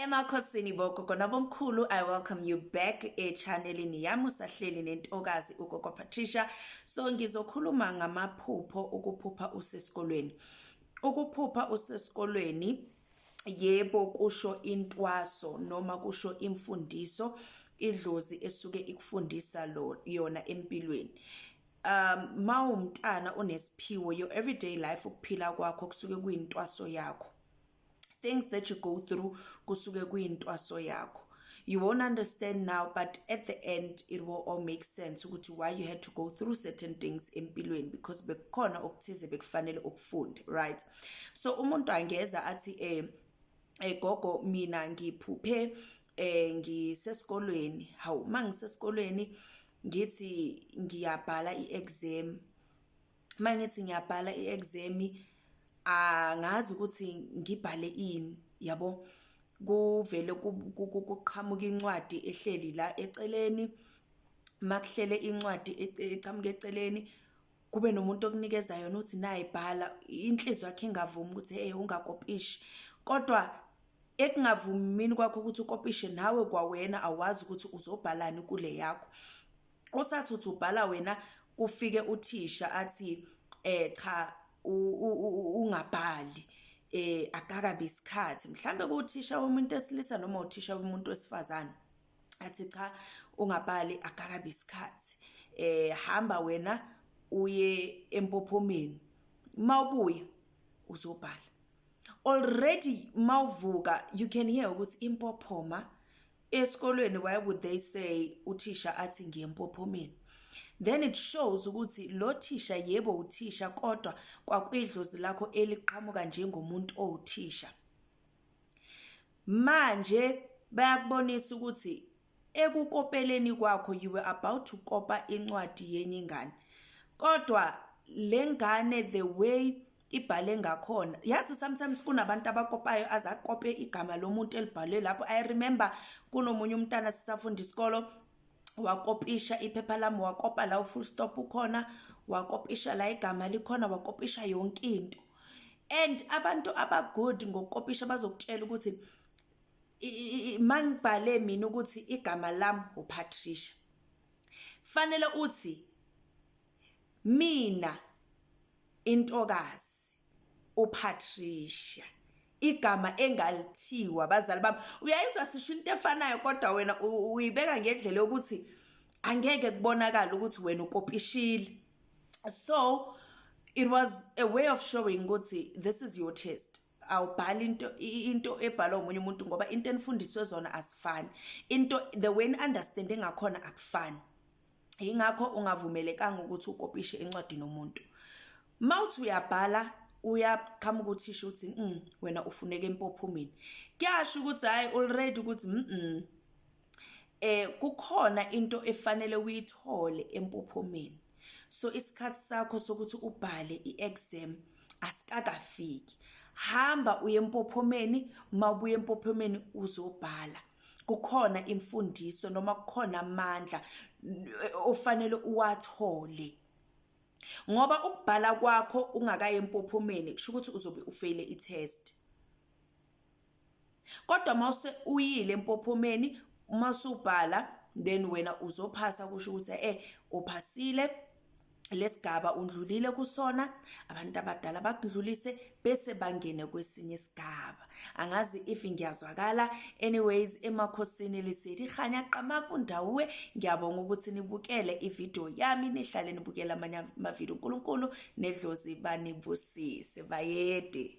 emakhosini bogogo nabomkhulu i welcome you back echanelini yami usahleli nentokazi ugogo patricia so ngizokhuluma ngamaphupho ukuphupha usesikolweni ukuphupha usesikolweni yebo kusho intwaso noma kusho imfundiso idlozi esuke ikufundisa lo yona empilweni um mawumntana onesiphiwo your everyday life ukuphila kwakho kusuke kuyintwaso yakho things that you go through kusuke kuyintwaso yakho you won't understand now but at the end it will all make sense ukuthi why you had to go through certain things empilweni because bekukhona okuthize bekufanele ukufunde right so umuntu angeza athi eh egogo eh, mina ngiphuphe eh ngisesikolweni hawu mangisesikolweni ngithi ngiyabhala iexam mangithi ngiyabhala iexam angazi ukuthi ngibhale ini yabo kuvele kuqhamuka incwadi ehleli la eceleni makuhlele incwadi e-, eqhamuka eceleni kube nomuntu okunikeza yona uthi nayi bhala inhliziyo yakhe ingavumi ukuthi hey ungakopishi kodwa ekungavumini kwakho ukuthi ukopishe nawe kwawena awazi ukuthi uzobhalani kule yakho usathi uthi ubhala wena kufike uthisha athi eh cha ungabhali eh akakabi isikhathi mhlambe kuthisha umuntu esilisa noma uthisha umuntu wesifazane athi cha ungabhali akakabi isikhathi eh hamba wena uye empophomeni mawubuya uzobhala already mawuvuka you can hear ukuthi impophoma esikolweni why would they say uthisha athi ngiyempophomeni then it shows ukuthi lo thisha yebo uthisha kodwa kwakwidlozi lakho eliqhamuka njengomuntu owuthisha Manje bayakubonisa ukuthi ekukopeleni kwakho you were about to kopa incwadi yenye ingane kodwa le ngane the way ibhale ngakhona yazi sometimes kunabantu abakopayo azakope igama lomuntu elibhalwe lapho i remember kunomunye umntana sisafunda isikolo wakopisha iphepha lami wakopa la ufull stop ukhona wakopisha la igama likhona wakopisha yonke into and abantu abagood ngokukopisha bazokutshela ukuthi mangibhale mina ukuthi igama lami uPatricia fanele uthi mina intokazi uPatricia igama engalithiwa abazali bami uyayizwa sisho into efanayo kodwa wena uyibeka ngendlela yokuthi angeke kubonakala ukuthi wena ukopishile so it was a way of showing ukuthi this is your test awubhali into into ebhalwa umunye umuntu ngoba into enifundiswe zona asifani into the way ni understand ngakhona akufani yingakho ungavumelekanga ukuthi ukopishe incwadi nomuntu mawuthi uyabhala uyaqhamuka uthisha ukuthi mm, wena ufuneka empophumeni kuyasho ukuthi hayi already ukuthi mm, mm. eh kukhona into efanele uyithole empophomeni so isikhathi sakho sokuthi ubhale iexam asikakafiki hamba uye empophomeni mawubuye empophomeni uzobhala kukhona imfundiso noma kukhona amandla ofanele uwathole ngoba ukubhala kwakho ungakaye empophomeni kusho ukuthi uzobe ufeyile i-test kodwa mawuse uyile empophomeni uma usubhala then wena uzophasa kusho ukuthi eh uphasile lesigaba undlulile kusona abantu abadala bakudlulise bese bangene kwesinye isigaba angazi if ngiyazwakala anyways emakhosini liseli khanya qama kundawe ngiyabonga ukuthi nibukele ivideo yami nihlale nibukela amanye amavideo uNkulunkulu nedlozi banibusise bayede